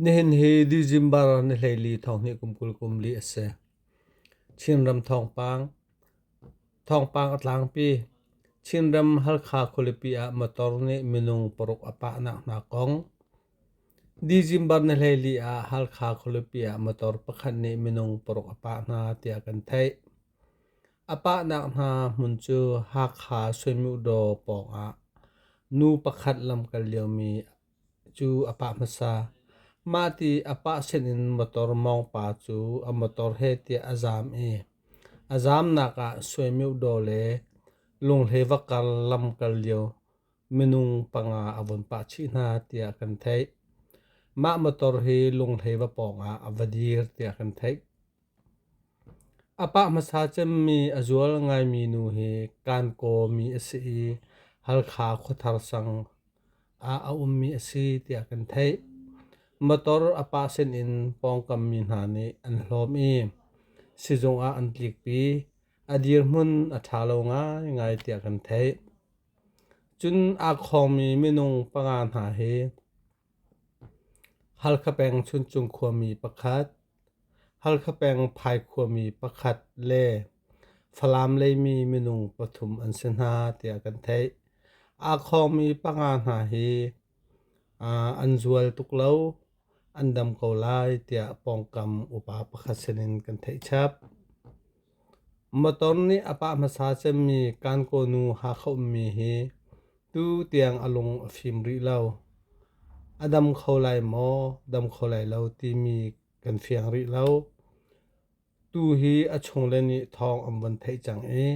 Nihin hi December ni hleili thonghnih kum kul kum li a si. Chinram thawngpang Thawngpang a tlangpi. Chinram Halkha khualipi ah motor nih minung paruk a pahnak hna kong. December ni hleili ah Halkha khualipi ah motor pakhat nih minung paruk a pah hna tiah kan theih. A pahnak hna hmun cu Hakha Suinmukdaw pawng ah nu pakhat lam kal liomi Cu a pah hmasa. Mahti a pah sinin motor mawngpa cu a motor he tiah a zaam i a zaamnak ah suaimeudaw le lunghle va kar lam kal lio minung panga a vun pah chih hna tiah kan theih. Mah motor hi lunghlei va pawngah a va dir tiah kan theih. A pah hmasa cemmi a zual ngaimi nu hi Kankawmi a si i Halkha khuathar sang ah a ummi a si tiah kan theih. Motor a pah sinin pawngkammi hna nih an hlawm i sizung ah an tlikpi. A dirhmun a ṭha lo ngaingai tiah kan theih. Cun aa khawngmi minung panga hna hi Halkha peng Chuncung khuami pakhat Halkha peng Phaikhua-mi pakhat le Falam leimi minung pathum an si hna tiah kan theih. Aa khawngmi panga hna hi an zual tuk lo, an dam ko lai tiah pawngkam upa pakhat sinin kan theih chap. Motor nih a pah hmasa cemmi kan kawnu hakhaummi hi tu tiang a lung a fim rih lo. A dam kho lai maw, dam kho lai lo timi kan fiang rih lo. Tu hi a chungle nih thawng an vun theih cang i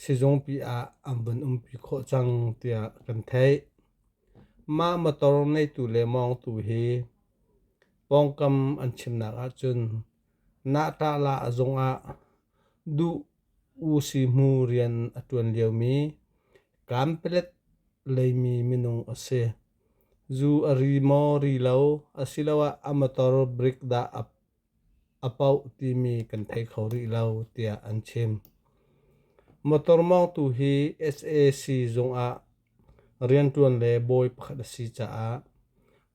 sizungpi ah an vun umpi khawh cang tiah kan theih. Mah motor neitu le mawngtu hi pawngkam an chimnak ahcun Nahtahla a zung ah duh usihmu rian a ṭuan liomi kanpalet leimi minung a si. Zu a ri maw ri lo asiloah a motor brick dah a, a poh timi kan thei kho rih lo tiah an chim. Motor mawngtu hi SAC zung ah Rianṭuan le bawi pakhat a si caah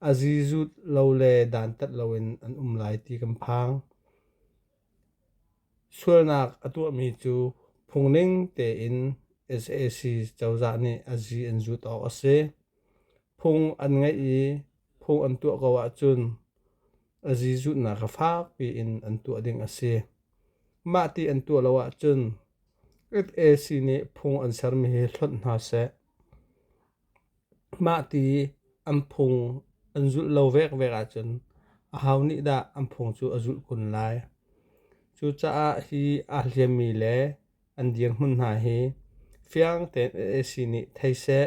a zi zut lo le dantat loin an um lai ti kan phang. Sualnak a tuahmi cu phungning tein sac cozah nih a zi an zut awk a si. Phung an ngeih i phung an tuah ko ahcun a zi zutnak kha fakpi in an tuah ding a si. Mah ti an tuah lo ahcun Sac nih phung an sermi hi hlonh hna seh. Mah ti an phung an zulh lo vekvek ahcun ahau nih dah an phung cu a zulh kun lai. Cucaah hi aa hliammi le an dirhmun hna hi fiang tein Sac nih thei seh.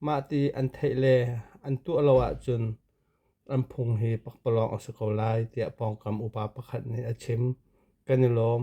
Mah ti an theih le an tuah lo ahcun an phung hi pakpalawng a si ko lai tiah pawngkam upa pakhat nih a chim. Kan i lawm.